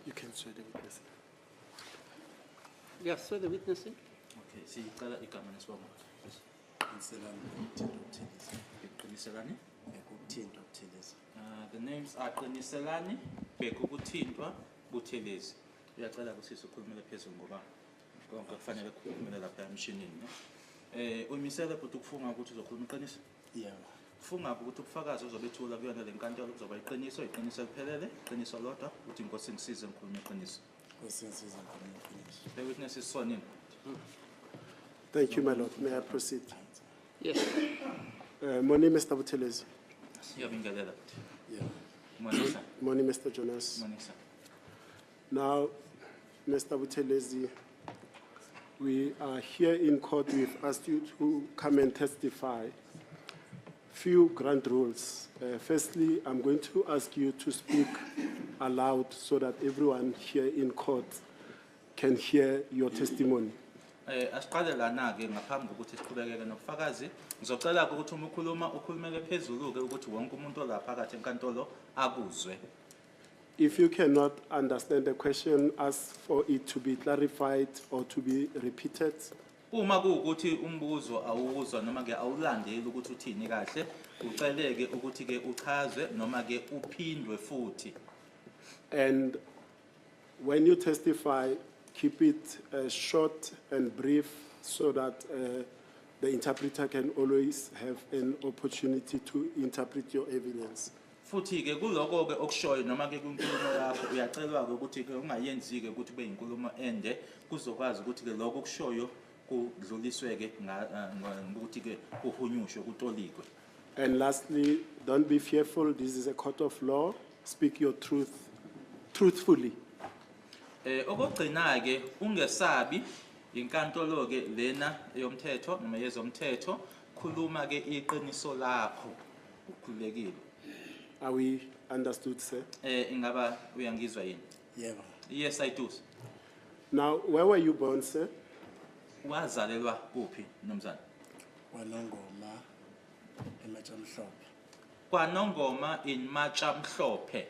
You can swear the witness. Yeah, swear the witness. in. Okay, sicela igama nesibongo. Inselani ngokuthinta ukuthelisa. Iqiniselani. Ngokuthinta ukuthelisa. Uh, the names are Qiniselani, Bheka ukuthintwa, Buthelezi. Uyacela kusisi ukhulumele phezulu ngoba konke kufanele kukhulumele lapha emshinini. ne? Eh uyimisele futhi ukufunga ukuthi uzokhuluma iqiniso. Yebo. Funga ukuthi ubufakazi ozobethula kuyona le nkantolo kuzoba iqiniso, iqiniso eliphelele, iqiniso lodwa, uthi inkosi ngisize ngikhulume iqiniso. Inkosi ngisize ngikhulume iqiniso. The witness is sworn in. Thank you, my lord. May I proceed? Yes. Uh, morning, Mr. Buthelezi. Siyabingelela. Yeah. Morning, sir. Morning, Mr. Jonas. Morning, sir. Now, Mr. Buthelezi, we are here in court. We've asked you to come and testify. Few grand rules. Uh, firstly, I'm going to ask you to speak aloud so that everyone here in court can hear your testimony. Eh asiqale lana ke ngaphambi kokuthi siqhubekeke nobufakazi ngizocela ukuthi uma ukhuluma ukhulumele phezulu ke ukuthi wonke umuntu olaphakathi enkantolo akuzwe If you cannot understand the question, ask for it to be clarified or to be repeated. Uma kuwukuthi umbuzo awuwuzwa noma ke awulandeli ukuthi uthini kahle, uceleke ukuthi ke uchazwe noma ke uphindwe futhi. And when you testify, keep it uh, short and brief so that uh, the interpreter can always have an opportunity to interpret your evidence. Futhi-ke kuloko-ke okushoyo noma-ke kwinkulumo yakho uyacelwa-ke ukuthi-ke ungayenzi-ke ukuthi kube yinkulumo ende kuzokwazi ukuthi-ke loko okushoyo kudluliswe-ke ngokuthi-ke eh, kuhunyushwe kutolikwe. And lastly, don't be fearful. This is a court of law. Speak your truth truthfully. Eh okugcina-ke ungesabi inkantolo-ke lena yomthetho noma yezomthetho khuluma-ke iqiniso lakho. ukhululekile are we understood sir eh ingaba uyangizwa yini yebo yes i do now where were you born sir wazalelwa kuphi nomzana kwanongoma ematshamhlophe kwanongoma in matshamhlophe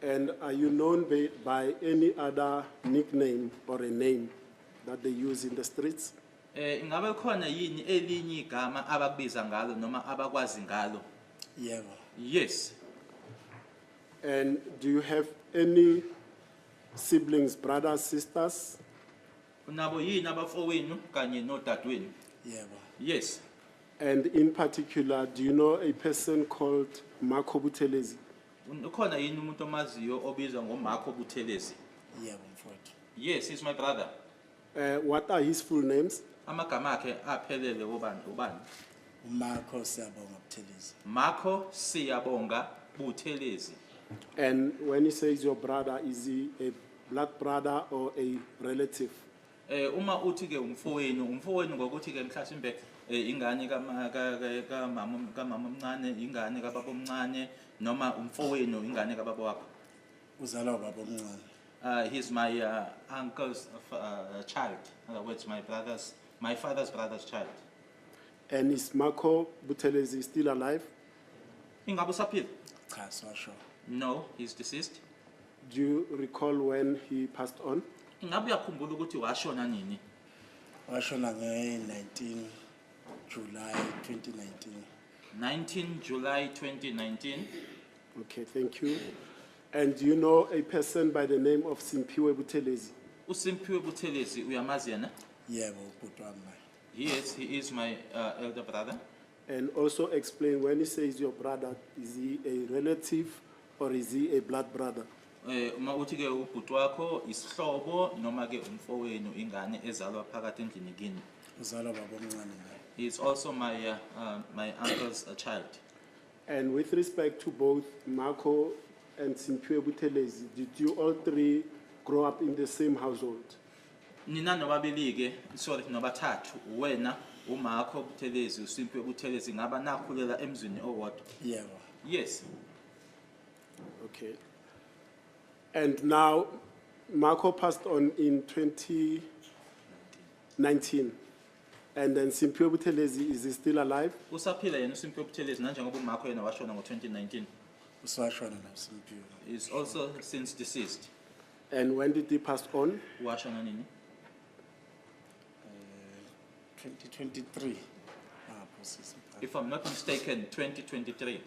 and are you known by, by any other nickname or a name that they use in the streets Eh ingabe khona yini elinye igama abakubiza ngalo noma abakwazi ngalo? Yebo. Yes. And do you have any siblings, brothers, sisters? Unabo yini abafowenu kanye nodadewenu? Yebo. Yes. And in particular, do you know a person called Marco Buthelezi? Un- Ukhona yini umuntu omaziyo obizwa ngoMarco Buthelezi? Yebo mfowethu. Yes, he's my brother. Uh, what are his full names? Amagama akhe aphelele obani ubani? Marco Siyabonga Buthelezi. Marco Siyabonga Buthelezi. And when he says your brother, is he a blood brother or a relative? Eh uma uthi ke umfowenu, umfowenu ngokuthi ke mhlasimbe eh ingane ka ka mama ka mama omncane, ingane ka baba omncane noma umfowenu ingane ka baba wakho. Uzalwa baba omncane. Uh, he's my uh, uncle's uh, uh, child, in other words, my brother's, my father's brother's child. And is Marco Buthelezi still alive? Ingabe usaphila? Cha, sasho. No, he's deceased. Do you recall when he passed on? Ingabe uyakhumbula ukuthi washona nini? Washona nge-19 July 2019. 19 July 2019. Okay, thank you. And do you know a person by the name of Simpiwe Butelezi? uSimphiwe Buthelezi uyamazi yena yebo ubhuti wami naye yes he is my uh, elder brother And also explain when he says your brother, is he a relative or is he a blood brother? eh uma uthi ke ubhuti wakho isihlobo noma ke umfowenu ingane ezalwa phakathi endlini kini uzalwa babomncane naye he is also my uh, uh, my uncle's uh, child And with respect to both Mako and Simphiwe Buthelezi, did you all three grow up in the same household? nina nobabili-ke sorry nobathathu wena umakho buthelezi usimpiwe buthelezi ngaba nakhulela emzini owodwa yebo yes Okay. And now, Marco passed on in 2019. And then Simphiwe Buthelezi, is he still alive? usaphila yena uSimphiwe Buthelezi nanjengoba umakho yena washona ngo-2019 usashona noSimphiwe is also since deceased And when did he pass on? washona nini 2023 lapho sisi if i'm not mistaken 2023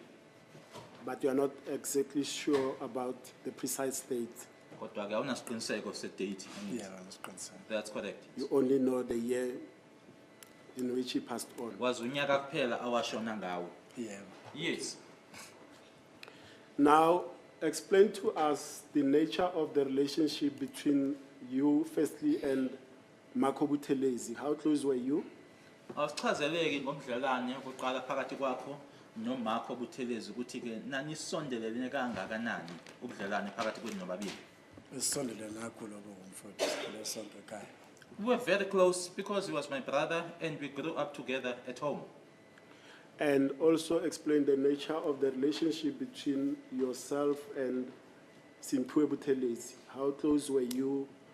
But you are not exactly sure about the precise date. kodwa ke awunasiqiniseko sedate yeah awunasiqiniseko that's correct you only know the year in which he passed on wazi unyaka kuphela awashona ngawo yeah yes now explain to us the nature of the relationship between you firstly and Makho Buthelezi, how close were you? Awusichazeleki ngobudlelwane obuqala phakathi kwakho noMakho Buthelezi ukuthi-ke nanisondelelene kangakanani ubudlelwane phakathi kwenu nobabili? Sisondelene kakhulu obo ngomfowethu sikhule sonke ekhaya. We were very close because he was my brother and we grew up together at home. And also explain the nature of the relationship between yourself and Simphiwe Buthelezi. How close were you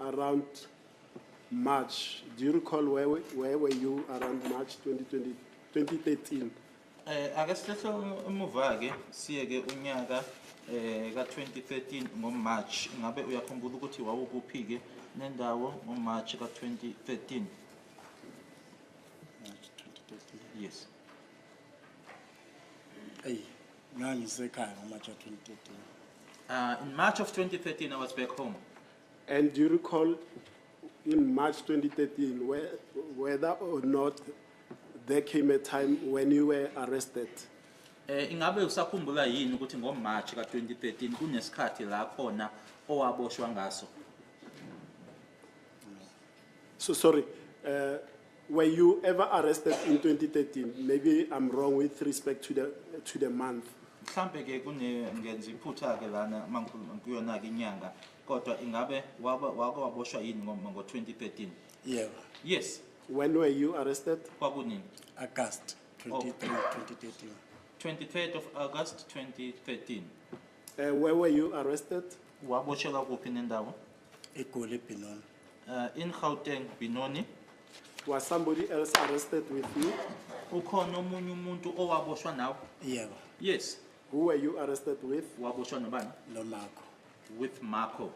Around March, do you recall where, where were you around March 2020, 2013? Eh ake sihlehla emuva ke siye ke unyaka eh ka 2013 ngo March ngabe uyakhumbula ukuthi wawukuphi ke nendawo ngo March ka 2013 Yes Hey ngangisekhaya ngo March 2013 Uh in March of 2013 I was back home And do you recall in March 2013 where, whether or not there came a time when you were arrested? Eh ingabe usakhumbula yini ukuthi ngoMarch ka2013 kunesikhathi la khona owaboshwa ngaso? So sorry. Uh, Were you ever arrested in 2013? Maybe I'm wrong with respect to the, to the month. mhlampe ke kungenza iphutha ke lana mangikhuluma kuyona ke inyanga kodwa ingabe wake wake waboshwa yini ngo ngo 2013 Yebo. yes When were you arrested? kwakunini August 23, 2013. 23rd of August 2013 Uh, where were you arrested? waboshelwa kuphi nendawo egoli ebinoni Uh, in Gauteng, Benoni, Was somebody else arrested with you? ukhona omunye umuntu owaboshwa nawe? yebo Yes, Who were you arrested with? waboshwa nobani? nomakho With Marco.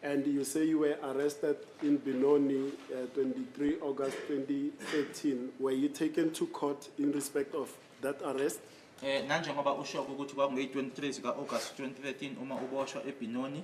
And you say you were arrested in Benoni, uh, 23 August 2013. Were you taken to court in respect of that arrest? Eh nanjengoba usho ukuthi kwakungeyi-23 zika-August 2013 uma uboshwa eBinoni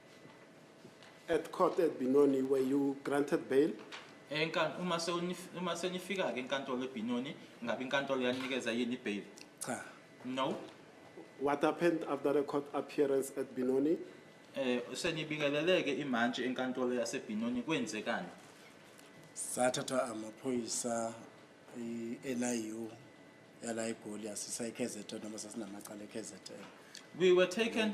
At court at Binoni, were you granted bail? Enkan- uma sewunif- uma senifika-ke enkantolo ebhinoni ngabe inkantolo yaninikeza yini ibheyili Cha. no What happened after the court appearance at Binoni? eh senibikeleleke imantshi enkantolo yasebhinoni kwenzekani Sathatha amaphoyisa i-NIU yala eGoli yasisa eKZN noma sasinamacala eKZN. we were taken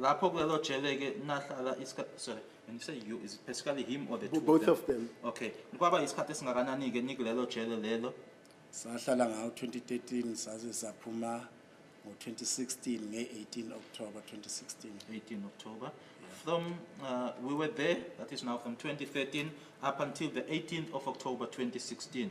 Lapho kulelo jele ke nahlala isikhathi sorry when you say you is it basically him or the two both of them okay kwaba isikhathi esingakanani ke nikulelo jele lelo sahlala ngawo 2013 saze saphuma ngo-2016 nge-18 october 2016 18 october from uh, we were there that is now from 2013 up until the 18th of october 2016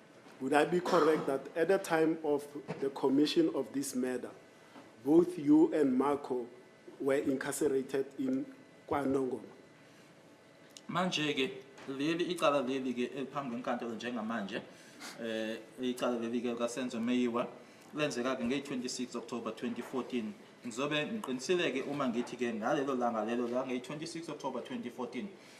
Would I be correct that at the time of the commission of this murder, both you and Marco were incarcerated in KwaNongoma? manje ke leli icala leli ke eliphambi kwenkantolo njengamanje eh icala leli ke kaSenzo Meyiwa lenzeka ke ngeyi-26 October 2014 ngizobe ngiqinisile ke uma ngithi ke ngalelo langa lelo la ngeyi-26 October 2014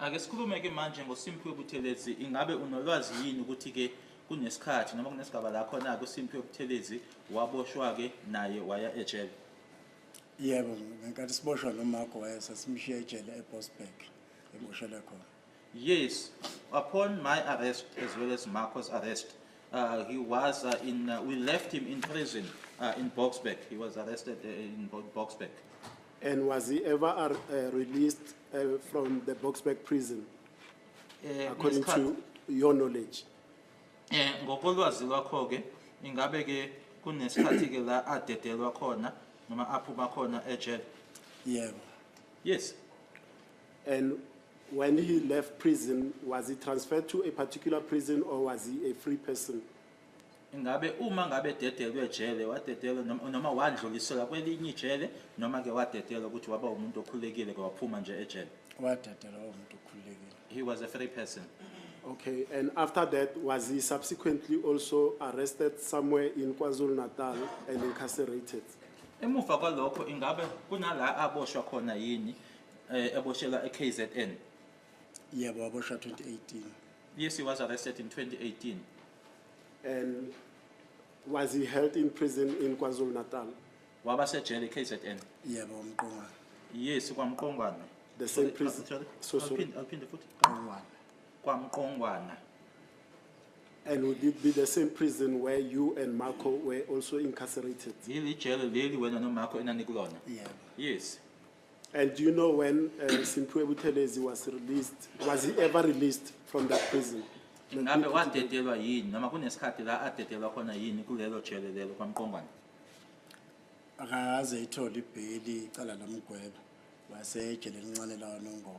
Ake sikhulume ke manje ngoSimphiwe Buthelezi ingabe unolwazi yini ukuthi ke kunesikhathi noma kunesigaba la khona ke uSimphiwe Buthelezi waboshwa ke naye waya ejele. Yebo ngenkathi siboshwa noMark waye sasimshiya ejele eBosberg eboshelwe khona. Yes, upon my arrest as well as Marco's arrest, uh, he was uh, in, uh, we left him in prison uh, in Boksburg. He was arrested uh, in Bo- Boksburg. And was he ever ar- uh, released uh, from the Boxback prison, Eh, according ngesikhathi- to your knowledge? Eh ngokolwazi lwakho ke ingabe ke kunesikhathi ke la adedelwa khona noma aphuma khona ejele. Yebo. Yes. And when he left prison, was he transferred to a particular prison or was he a free person? Ingabe uma ngabe ededelwe ejele, wadedelwa noma, noma wandluliselwa kwelinye ijele, noma-ke wadedelwa ukuthi waba umuntu okhululekile-ke waphuma nje ejele? Wadedelwa waba umuntu okhululekile. He was a free person. Okay, and after that, was he subsequently also arrested somewhere in KwaZulu Natal and incarcerated? Emuva kwalokho ingabe kunala aboshwa khona yini eh, eboshelwa eKZN? Yebo, waboshwa 2018. Yes, he was arrested in 2018. And was he held in prison in KwaZulu Natal? Waba sejele KZN. Yebo uMqongwana. Yes kwaMqongwana. The same prison. So so. Awuphinde futhi. Qongwana. KwaMqongwana. And would it be the same prison where you and Marco were also incarcerated? Leli jele leli wena noMarco enanikulona. Yebo. Yes. And do you know when uh, Simphiwe Buthelezi was released? Was he ever released from that prison? ngabe wadedelwa yini noma kunesikhathi la adedelwa khona yini kulelo jele lelo kwamqongwana akaze ithole ibheli icala lomgweba wasejele elincane lawanongoma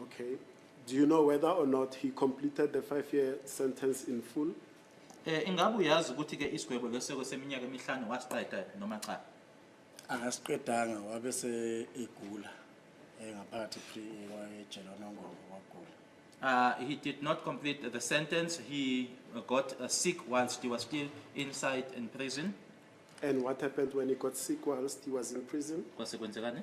Okay. Do you know whether or not he completed the five-year sentence in full? Eh ingabe uyazi ukuthi ke isigwebo leseko seminyaka emihlanu wasiqeda noma cha? Akasiqedanga wabe se egula eh, ngaphakathi pre ejele onongoma wagula. Uh, he did not complete the sentence. He got uh, sick whilst he was still inside in prison. And what happened when he got sick whilst he was in prison? Kwase kwenzekani?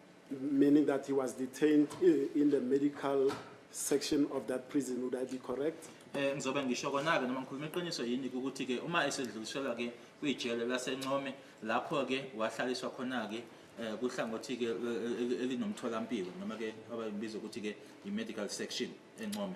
Meaning that he was detained eh, in the medical section of that prison, would I be correct? Eh ngizobe ngisho kona ke noma ngikhuluma iqiniso yini ukuthi ke uma esedluliselwa ke kwijele laseNcome lapho ke wahlaliswa khona ke eh kuhlangothi ke eh, eh, elinomtholampilo noma ke abayibiza ukuthi ke i-medical section eNcome.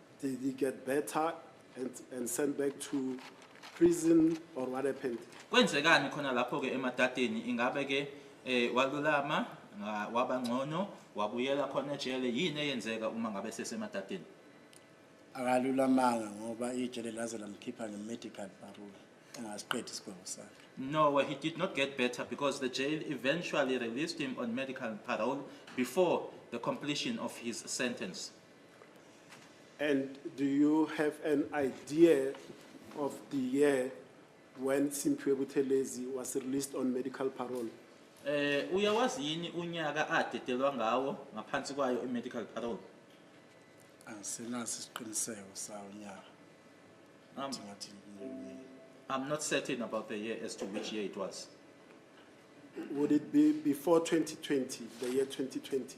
Did he get better and, and sent back to prison or what happened? Kwenzekani khona lapho ke emadadeni ingabe ke eh walulama nga- waba ngcono wabuyela khona ejele yini eyenzeka uma ngabe sesemadadeni? akalulamanga ngoba ijele laze lamkhipha nge-medical parole engasiqedi isigwebo sakhe No, he did not get better because the jail eventually released him on medical parole before the completion of his sentence. And do you have an idea of the year when Simphiwe Buthelezi was released on medical parole? Eh uyawazi yini unyaka adedelwa ngawo ngaphansi kwayo i-medical parole? Angisenaso isiqiniseko sawo nyaka. Um, Ngathi ngibuye. I'm not certain about the year as to which year it was. Would it be before 2020, the year 2020?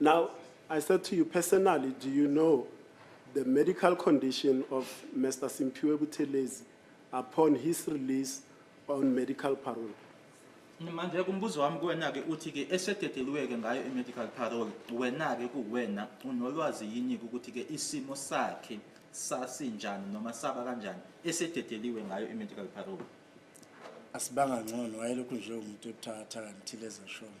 Now, I said to you personally, do you know the medical condition of Mr. Simpiwe Buthelezi upon his release on medical parole? manje kumbuzo wami kuwena-ke uthi-ke esededeliwe-ke ngayo i-medical parole wena-ke kuwena unolwazi yini-ke ukuthi-ke isimo sakhe sasinjani noma saba kanjani esededeliwe ngayo i-medical parole asibanga ngcono wayelokhu nje umuntu ebuthathaka ngithile ezeshona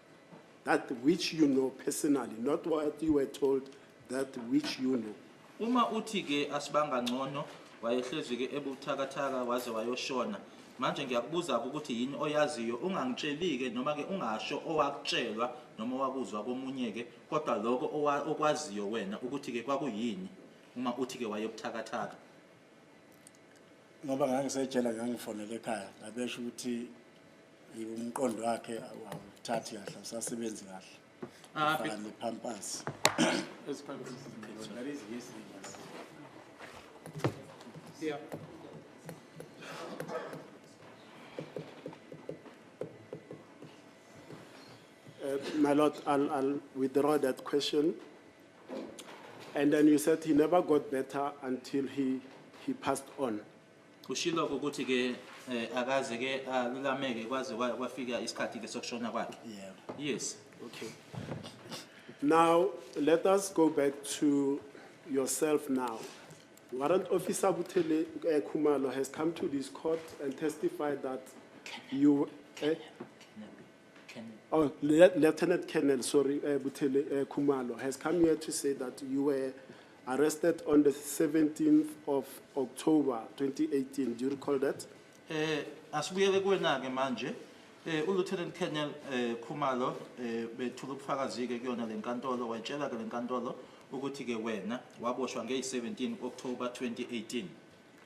that which you know personally not what you were told that which you know uma uthi ke asibanga ngcono wayehlezi ke ebuthakathaka waze wayoshona manje ngiyakubuza ke ukuthi yini oyaziyo ungangitsheli ke noma ke ungasho owakutshelwa noma wakuzwa komunye ke kodwa lokho okwaziyo wena ukuthi ke kwakuyini uma uthi ke wayebuthakathaka ngoba ngangisejela ngangifonele ekhaya ngabesho ukuthi umqondo wakhe awuthathi kahle usasebenzi kahle ah, faka ne-pampers Yeah. Uh, my lord, I'll, I'll withdraw that question. And then you said he never got better until he, he passed on. Kushilo ukuthi ke eh, akaze ke alulameke kwaze kwa- kwafika isikhathi ke sokushona kwakhe. Yeah. Yes. Okay. Now, let us go back to yourself now. Warrant Officer Butele eh, Kumalo has come to this court and testified that you, eh, Oh, Lieutenant Colonel, sorry, uh, Butele uh, Kumalo, has come here to say that you were arrested on the 17th of October 2018. Do you recall that? Eh asibuyele kuwena ke manje. Eh uLieutenant Colonel eh Khumalo eh bethula ubufakazi ke kuyona lenkantolo wayitshela ke lenkantolo ukuthi ke wena waboshwa ngey 17 October 2018.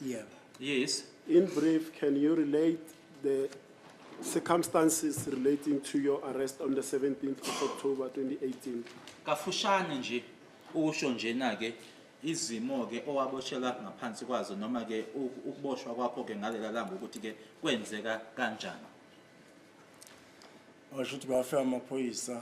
Yeah. Yes. In brief, can you relate the circumstances relating to your arrest on the 17th of October 2018? Kafushane nje usho njena ke izimo ke owaboshela ngaphansi kwazo noma ke u- ukuboshwa kwakho ke ngalela langa ukuthi ke kwenzeka kanjani. washo ukuthi bafika amaphoyisa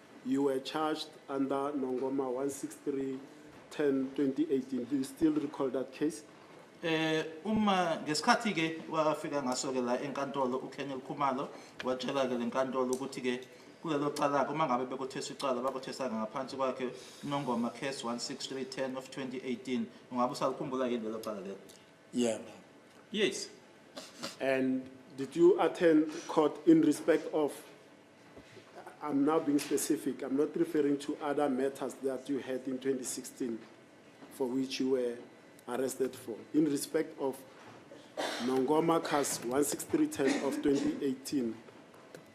You were charged under Nongoma 163 10 2018. Do you still recall that case? Eh uma ngesikhathi ke wafika ngaso ke la enkantolo uKenya Khumalo watshela ke lenkantolo ukuthi ke kulelo cala uma ngabe bekuthesa icala bakuthesa ngaphansi kwakhe Nongoma case 16310 of 2018 ungabe usalikhumbula yini lelo cala lelo Yeah. Yes. And did you attend court in respect of I'm now being specific. I'm not referring to other matters that you had in 2016 for which you were arrested for. In respect of Nongoma Cas 16310 of 2018,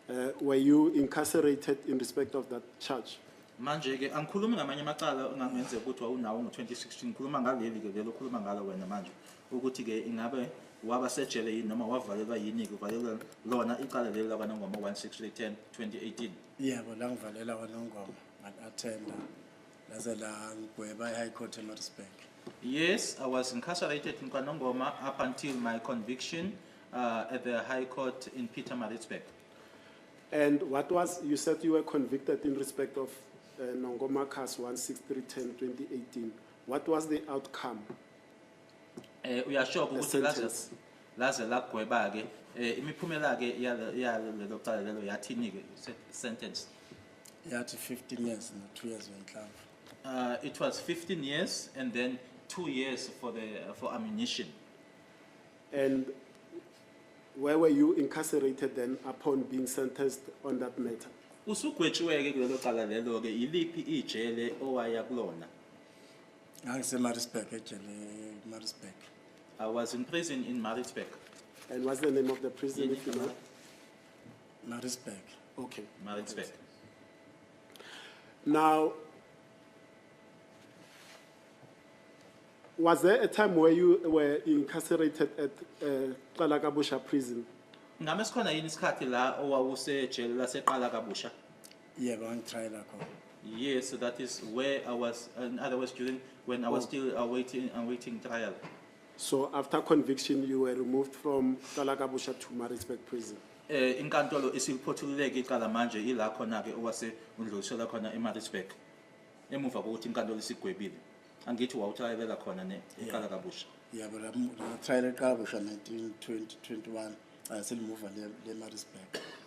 uh, were you incarcerated in respect of that charge? manje ke angikhulumi ngamanye amacala engangenzeka ukuthi wawunawo ngo-2016 ngikhuluma ngaleli ke lelo okhuluma ngalo wena manje ukuthi-ke ingabe waba sejele yini noma wavalelwa yini-ke uvalelwe lona icala leli lakwanongoma 16310 2018 yebo la ngivalela kwanongoma ngat-athenda laze langigweba i-high court emarisburg yes i was incarcerated in kwanongoma up until my conviction uh, at the high court in peter maritzburg and what was you said you were convicted in respect of uh, nongoma cas 16310 2018 what was the outcome eh uyashoka ukuthi laze laze lagweba ke eh, imiphumela ke yalelo cala lelo yathini ke sentence yathi 15 years no 2 years wenhlamba uh, it was 15 years and then 2 years for the uh, for ammunition and where were you incarcerated then upon being sentenced on that matter usugwetshiweke kulelo cala lelo ke iliphi ijele owaya kulona Ngangisemaritzburg ejele Maritzburg. I was in prison in Maritzburg. And what's the name of the prison if you know? Maritzburg. Okay. Maritzburg. Now, was there a time where you were incarcerated at uh, Qalakabusha prison? Ngabe sikhona yini isikhathi la owawusejele laseqala kabusha? Yebo, yeah, angitry lakho. Yes, so that is where I was an other West student when I was oh. still awaiting uh, awaiting uh, trial. So after conviction, you were removed from Kalakabusha to Maritzburg prison. Eh inkantolo isiphothululeke icala manje ila khona ke owase undlulisela khona eMaritzburg. Emuva kokuthi inkantolo isigwebile. Angithi wawutrayelela khona ne iqala kabusha. Yeah, but I'm trying to cover 19 2021. I still move le Maritzburg.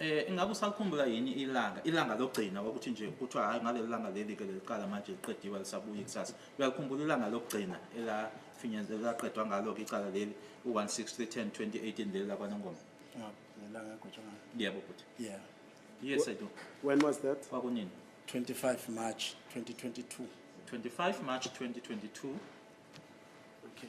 Eh ingabe usalikhumbula yini ilanga ilanga lokugcina ukuthi nje kuthiwa hayi ngaleli langa leli ke leliqala manje liqediwe lisabuye ikusasa uyalikhumbula ilanga lokugcina elafinyeza elaqedwa ngalo ke icala leli u-16310 2018 leli lakwanongoma Yeah, ngelanga egotshwa ngayo. yebo bhuti Yeah. yes i do When was that? kwakunini 25 March 2022. 25 march 2022 Okay.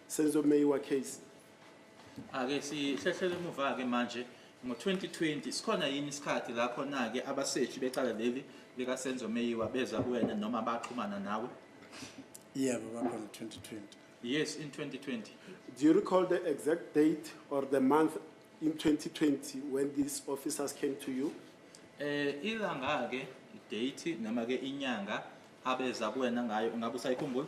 Senzo Meyiwa case. Ake sihlehlele emuva ke manje ngo-2020 sikhona yini isikhathi la khona-ke abaseshi becala leli likasenzo meyiwa beza kuwena noma baxhumana nawe yebo yeah, bakhona 2020 yes in 2020 do you recall the exact date or the month in 2020 when these officers came to you eh ilanga-ke date noma-ke inyanga abeza kuwena ngayo ungabe usayikhumbula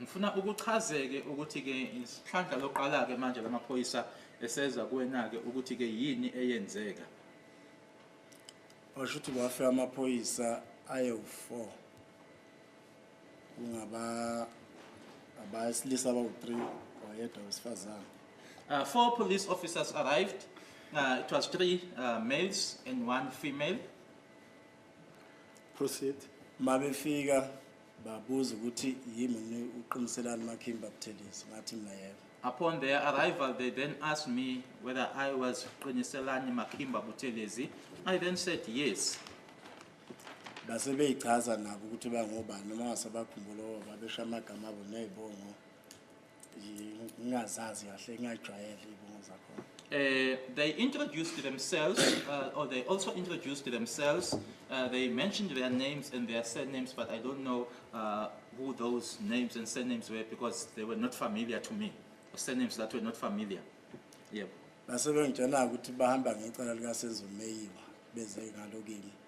Ngifuna ukuchazeke ukuthi ke isihlandla loqala ke manje lamaphoyisa eseza kuwena ke ukuthi ke yini eyenzeka. Washo ukuthi kwafe amaphoyisa ayewu-4 kungaba abasilisa abawu-3 wayedwa wesifazane. Uh, four police officers arrived. Uh, it was three uh, males and one female. Proceed. Mabefika Babuza ukuthi yimi uqiniselani Makimba Buthelezi ngathi mina yebo. Upon their arrival, they then asked me whether I was Qiniselani Makimba Buthelezi. I then said yes. Base beyichaza nabo ukuthi bangobani noma ngasabakhumbula babesha amagama abo nezibongo. ngingazazi kahle ngingajwayele iy'bongo zakhona Uh, they introduced themselves, uh, or they also introduced themselves. Uh, they mentioned their names and their surnames, but I don't know uh, who those names and surnames were because they were not familiar to me. Or surnames that were not familiar. Yeah. base bengitshela ukuthi bahamba ngecala likasenzomeyiwa beze ngalo kimi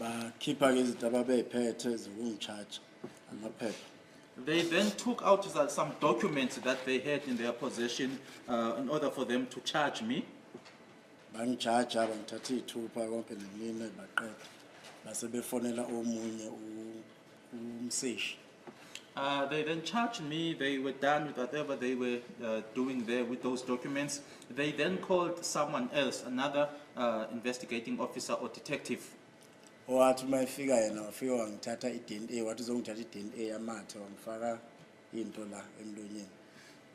bakhipha ke izinto ababeyiphethe zokungitshaja amaphepha They then took out some documents that they had in their possession uh, in order for them to charge me. bangijaja bangithatha iy'thupha konke nemine baqeda base befonela omunye u- umseshi Uh, they then charged me, they were done with whatever they were uh, doing there with those documents. They then called someone else, another uh, investigating officer or detective. owathi uma efika yena wafika wangithatha i-dna wathi uzongithatha i-dna yamathe wangifaka into la emlonyeni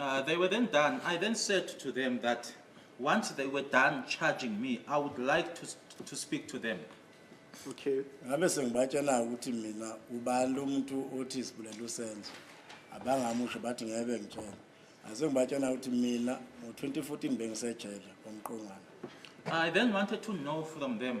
Uh, they were then done. I then said to them that once they were done charging me, I would like to, to speak to them. Okay. ngabe sengibatshela ukuthi mina ubani lo muntu othi isibulele usenzo abangamusho bathi ngeke bengitshela ase ngibatshela ukuthi mina ngo-2014 bengisejele komqongwana I then wanted to know from them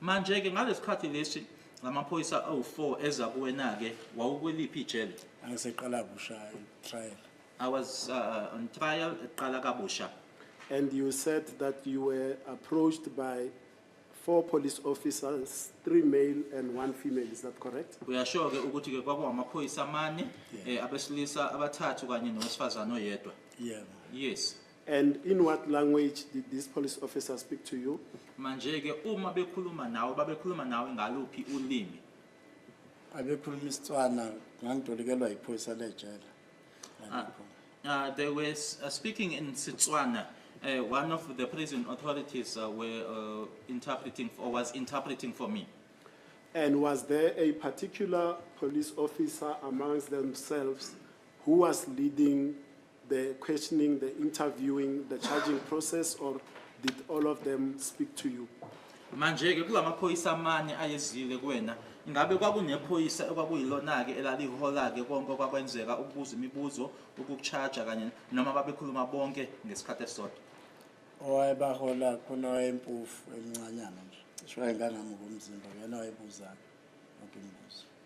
Manje-ke ngalesikhathi lesi lamaphoyisa awu-4 eza kuwena-ke wawukweliphi ijele? Aseqala busha trial. I was uh, on trial eqala kabusha. And you said that you were approached by four police officers, three male and one female, is that correct? Uyasho-ke ukuthi-ke kwakuwamaphoyisa amane Yeah. eh, abesilisa abathathu kanye nowesifazane oyedwa. Yeah. Yes. And in what language did this police officer speak to you? manje ke uma bekhuluma nawe babekhuluma nawe ngaluphi ulimi abekhuluma isitswana ngangitolikelwa yiphoyisa lejele Ngalokho. Uh, they were s- uh, speaking in Setswana. Uh, one of the prison authorities uh, were uh, interpreting or was interpreting for me. And was there a particular police officer amongst themselves who was leading The questioning, the interviewing, the charging process or did all of them speak to you? Manje ke kulamaphoyisa amane ayezile kuwena ngabe kwakunephoyisa okwakuyilona-ke elalihola-ke konke okwakwenzeka ukubuza imibuzo ukukutshaja kanye noma babekhuluma bonke ngesikhathi esisodwa owayebahola khona wayempofu emncanyana nje cishe wayengangamuka umzimba uyena wayebuzayo yonke imibuzo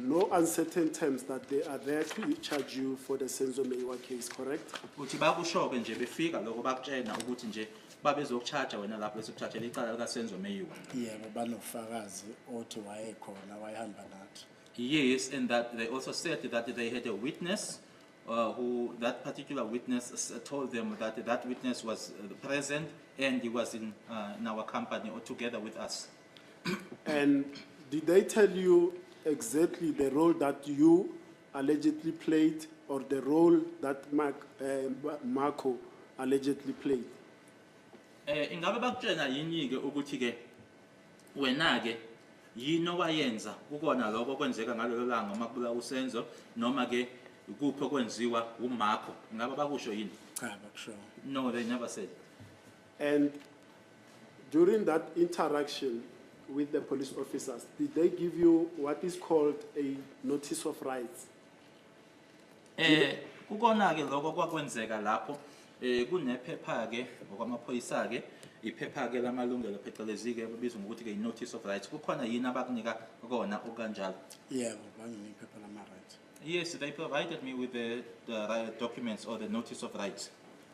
no uncertain terms that they are there to charge you for the Senzo Meyiwa case, correct? uthi bakusho-ke nje befika lokho bakutshena ukuthi nje babezokuchaja wena lapho bese kuchathela icala likasenzo meyiwa Yebo banofakazi othi wayekhona wayehamba nathi. yes and that they also said that they had a witness uh, who that particular witness s- told them that that witness was uh, present and he was in, uh, in our company or together with us And did they tell you exactly the role that you allegedly played or the role that Mark, uh, Marco allegedly played? Eh ingabe bakutshena yini ke ukuthi ke wena ke yini owayenza kukona lokho kwenzeka ngalelo langa uma kubula usenzo noma ke kuphi okwenziwa uMarco ingabe bakusho yini Cha, bakusho. no they never said And during that interaction with the police officers, did they give you what is called a notice of rights? Eh kukona ke lokho kwakwenzeka lapho eh kunephepha ke ngokwamaphoyisa ke iphepha ke lamalungelo phecelezi ke babizwa ngokuthi ke notice of rights kukhona yini abakunika kona okanjalo yebo banginika iphepha lama rights yes they provided me with the, the documents or the notice of rights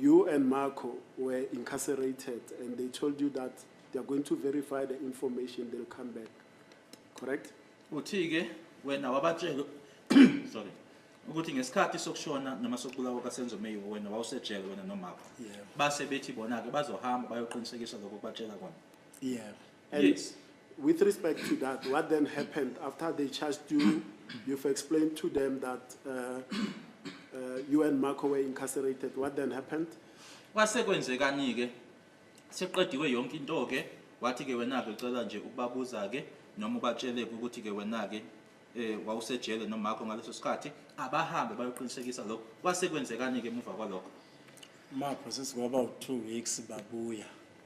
You and Marco were incarcerated and they told you that they are going to verify the information, they'll come back. Correct? Uthi-ke wena wabatshela sorry ukuthi ngesikhathi sokushona noma sokubulawa kaSenzo Meyiwa wena wawusejele wena nomakho. Yebo. Base bethi bona-ke bazohamba bayoqinisekisa lokho kubatshela kona. Yebo. And yes. with respect to that, what then happened after they charged you? You've explained to them that uh, uh, you and Marco were incarcerated. What then happened? Kwase kwenzekani ke? Seqediwe yonke into ke, wathi ke wena ke cela nje ukubabuza ke noma ubatshele ukuthi ke wena ke eh wawusejele nomakho ngaleso sikhathi abahambe bayoqinisekisa lokho kwase kwenzekani ke emuva kwalokho mapho sesikwaba u2 weeks babuya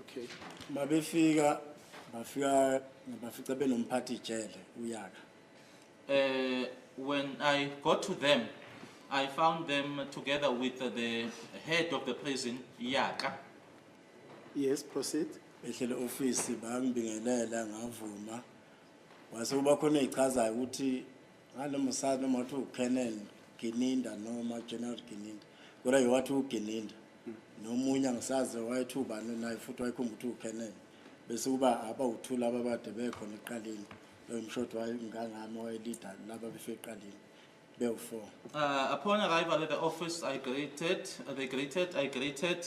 okay mabefika bafika ngabafica benomphathi ijele uyaka uh, when i got to them i found them together with the head of the prison yaka yes proceed ehlele office bangibingelela ngavuma wase kuba khona echazayo ukuthi nganoma usazi noma wathi uKenel Gininda noma General Gininda kodwa ke wathi uGininda nomunye angisazi wayethi ubani naye futhi wayekhumba ukuthi uKenel bese kuba aba uthula ababade bekhona eqaleni lomshoti wayengangami wayelida laba befike eqaleni bewu-four Uh, upon arrival at the office, I greeted, they greeted, I greeted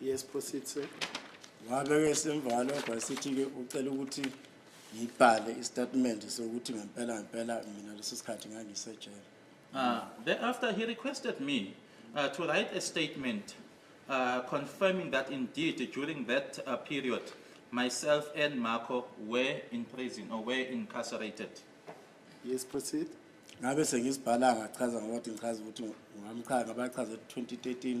Yes, proceed sir. Ngabe-ke semvalo vasithi-ke ucela ukuthi ngibhale isitatimende sokuthi ngempela ngempela mina leso sikhathi ngangisejele. Uh, thereafter, he requested me uh, to write a statement uh, confirming that indeed during that uh, period, myself and Marco were in prison or were incarcerated. Yes, proceed. Ngabe sengizibhala ngachaza ngokuthi ngichaza ukuthi ngamchaza ngabachaza 2013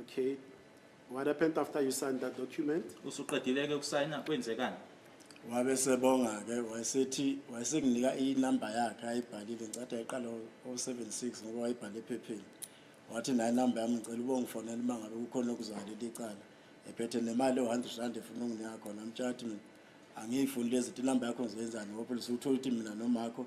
Okay. What happened after you signed that document? Usuqedile ke ukusayina kwenzekani? Wabe sebonga ke wayesethi wayesenginika inumber yakhe ayibhalile ngicatha iqala o76 ngoba wayibhale ephepheni. Wathi nayi number yami ngicela ubongifonela uma ngabe kukhona okuzwakele licala. Ephethe nemali o100 rand efuna unginika khona mtshati mina. Angiyifuni lezi inumber yakho ngizoyenzani ngoba usuthola ukuthi mina nomakho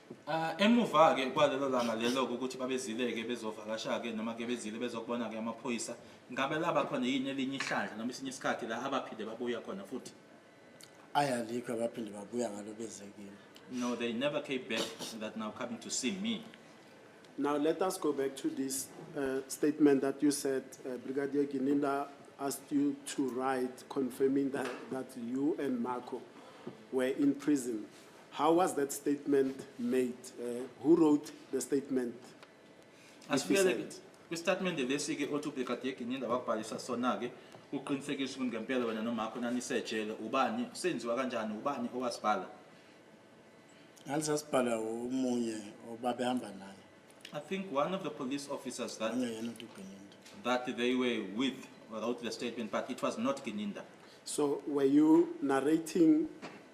Ah, Emuva-ke kwalelo langa lelo-ke ukuthi babezile-ke bezovakasha-ke noma-ke bezile bezokubona-ke amaphoyisa, ngabe laba khona yini elinye ihlandla noma esinye isikhathi la abaphinde babuya khona futhi? ayi alikho abaphinde babuya ngalo beze kimi No, they never came back that now coming to see me. Now, let us go back to this uh, statement that you said, uh, Brigadier Gininda asked you to write confirming that, that you and Marco were in prison. How was that statement made? Uh, who wrote the statement? Asibuyele kwistatimende lesi ke othi ubekade eginyinda wakubhalisa sona ke uqinisekisa ukuthi ngempela wena nomakho nanisejele ubani senziwa kanjani ubani owasibhala ngalisasibhala umunye obabehamba naye I think one of the police officers that that they were with wrote the statement but it was not Gininda. So were you narrating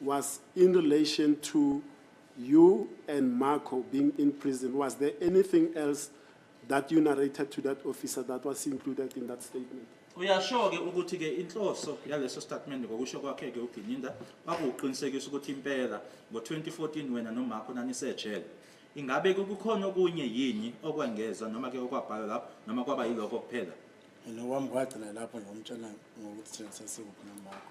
Was in relation to you and Marco being in prison, was there anything else that you narrated to that officer that was included in that statement? uyasho-ke ukuthi-ke inhloso yaleso statimende ngokusho kwakhe-ke ugininda kwakuwuqinisekisa ukuthi impela ngo-2014 wena nomakho nanisejele ingabe kukhona okunye yini okwengeza noma-ke okwabhalwa lapho noma kwaba yilokho kuphela mina kwami kwagcina lapho ngomtshela ngokuthi thina sasikuphi nomakho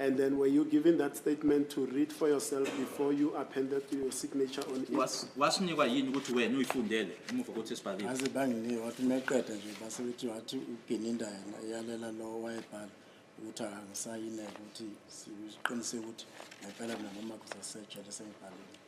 And then were you given that statement to read for yourself before you appended your signature on it? Was wasinikwa yini ukuthi wena uyifundele emuva kokuthi sibhalile? Aze banginika wathi meqeda nje base bethi wathi uGininda yena iyalela lo wayebhala ukuthi angisayineke ukuthi siqiniseke ukuthi ngempela mina noma kusasetshe lesengibhalile.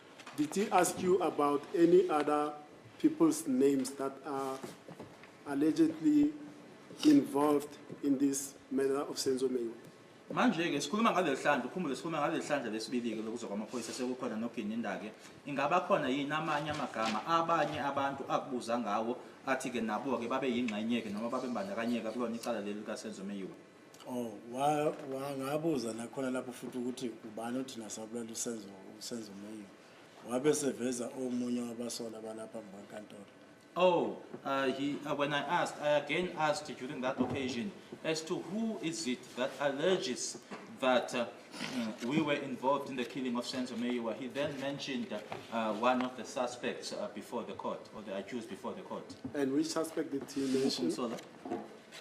Did he ask you about any other people's names that are allegedly involved in this matter of Senzo Meyiwa? manje-ke sikhuluma ngaleli hlandla ukhumbule sikhuluma ngaleli hlandla lesibili-ke lokuza kwamaphoyisa sekukhona noginindake ingaba khona yini amanye amagama abanye abantu akubuza ngawo athi-ke nabo-ke babe yingxenye-ke noma babembandakanyeka kulona icala leli likasenzo meyiwa Oh, wa wangabuza nakhona lapho futhi ukuthi ubani othi nasabulala usenzo usenzo meyo. Wabe seveza omunye wabasola balapha ngwankantolo. Oh, uh, he, uh, when I asked, I again asked during that occasion as to who is it that alleges that uh, mm, we were involved in the killing of Senzo Meyiwa. He then mentioned uh, one of the suspects uh, before the court, or the accused before the court. And which suspect did he mention? Umsola.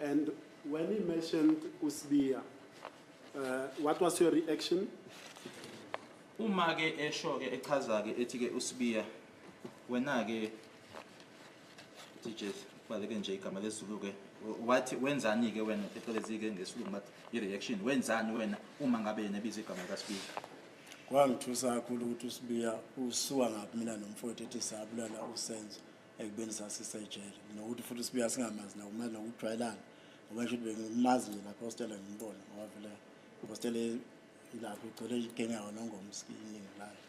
And when he mentioned uSibiya, uh, what was your reaction? Uma ke esho ke echaza ke ethi ke uSibiya wena ke teachers baleke nje igama lesizulu ke wathi wenzani ke wena phecelezi ke ngesilungu bathi i-reaction wenzani wena uma ngabe yena ebiza igama likaSibiya kwangithusa kakhulu ukuthi uSibiya usuka ngaphi mina nomfowethu ethi sabulala uSenzo ekubeni sasisejele nokuthi futhi sibuya singamazi nakumazi nokujwayelana ngoba nje ukuthi bengimazi nje lapho ostela ngimbona ngoba vele ostela ilapho igcwele igenyawo nongomsi iningi layo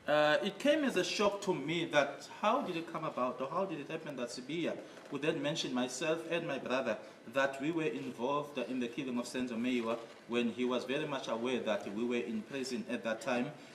Uh, it came as a shock to me that how did it come about or how did it happen that Sibiya would then mention myself and my brother that we were involved in the killing of Senzo Meyiwa when he was very much aware that we were in prison at that time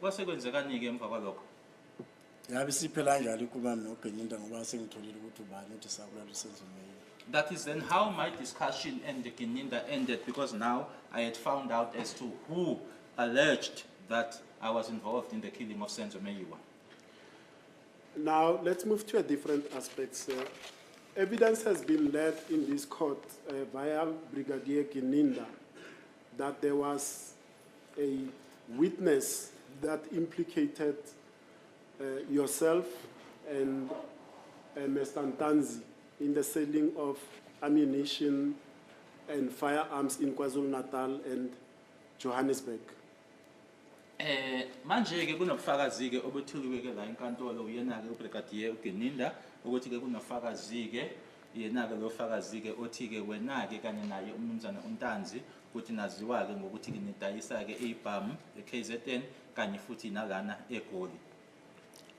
Kwase kwenzekani-ke emva kwalokho? Ngabe siphela kanjalo inkulumo noGeninda ngoba sengitholile ukuthi ubani uthi sakulala usenzimeyini. That is then how my discussion and the Gininda ended because now I had found out as to who alleged that I was involved in the killing of Senzo Meyiwa. Now, let's move to a different aspect, sir. Evidence has been led in this court uh, via Brigadier Gininda that there was a witness that implicated uh, yourself and uh, Mr. Ntanzi in the selling of ammunition and firearms in KwaZulu-Natal and Johannesburg. Eh manje ke kunobufakazi ke obuthuliwe ke la enkantolo uyena ke ubrigadier uGeninda ukuthi ke kunofakazi ke yena ke lofakazi ke othi ke wena ke kanye naye umnumzana uNtanzi Futhi naziwa-ke ngokuthi kinidayisa-ke ibhamu e-KZN kanye futhi nalana eGoli.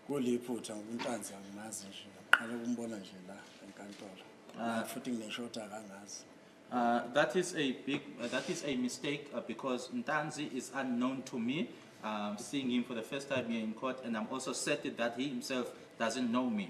Kuliphutha ngoba uNtanzi angimazi nje, ngiqale ukumbona nje la enkantolo. Ah. Futhi ngineshoti akangazi. Uh, that is a big, uh, that is a mistake uh, because Ntanzi is unknown to me. Um, seeing him for the first time here in court, and I'm also certain that he himself doesn't know me.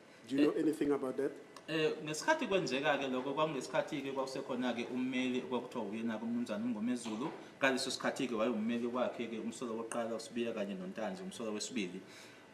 Do you know eh, anything about that? Eh ngesikhathi kwenzeka ke lokho kwangesikhathi ke kwakusekhona ke ummeli kwakuthiwa uyena ke umnumzane uMngomezulu kaleso sikhathi ke wayevummeli kwakhe ke umsolo wokuqala uSibiya kanye noNtanzi umsolo wesibili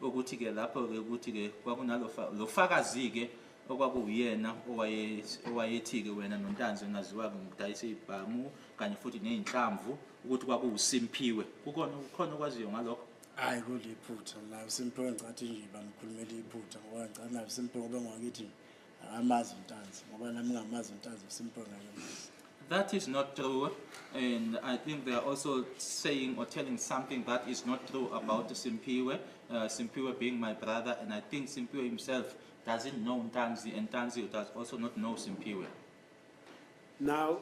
ukuthi ke lapho ke ukuthi ke kwakunalofa lofakazi ke okwakuwuyena owaye owayethi ke wena noNtanzi ngaziwa ngokudayisa ibhamu kanye futhi nezinhlamvu ukuthi kwakuwuSimpiwe kukona ukhona okwaziyo ngalokho hayi kuliphutha nayo simphiwe ngicathi nje bamkhulumela iphutha ngoba ngicathi nayo simphiwe ngoba ngwakithi akamazi untanzi ngoba nami ngamazi untanzi simphiwe ngakemazi That is not true, and I think they are also saying or telling something that is not true about Simpiwe, uh, Simpiwe being my brother, and I think Simpiwe himself doesn't know Ntanzi, and Ntanzi does also not know Simpiwe. Now,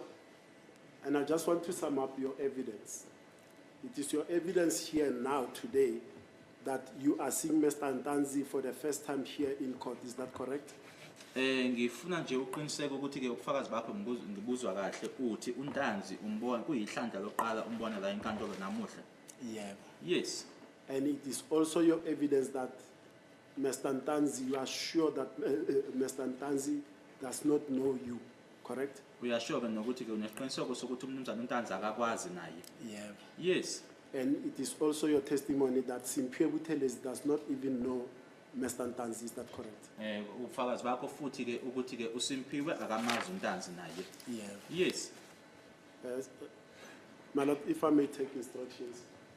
and I just want to sum up your evidence. It is your evidence here now today that you are seeing Mr. Ntanzi for the first time here in court. Is that correct? Eh ngifuna nje uqiniseke ukuthi ke ubufakazi bakho ngibuzu- ngibuzwa kahle uthi uNtanzi umbona kuyihlandla lokuqala umbona la enkantolo namuhla. Yeah. Yes. And it is also your evidence that Mr. Ntanzi, you are sure that uh, uh, Mr. Ntanzi does not know you, correct? Uyasho ke nokuthi ke unesiqiniseko sokuthi umnumzane uNtanzi akakwazi naye. Yeah. Yes. And it is also your testimony that Simphiwe Buthelezi does not even know Mr. Ntanzi, is that correct? Eh ubufakazi bakho futhi ke ukuthi ke uSimphiwe akamazi uNtanzi naye. Yeah. Yes. Yes. My lord, if I may take instructions.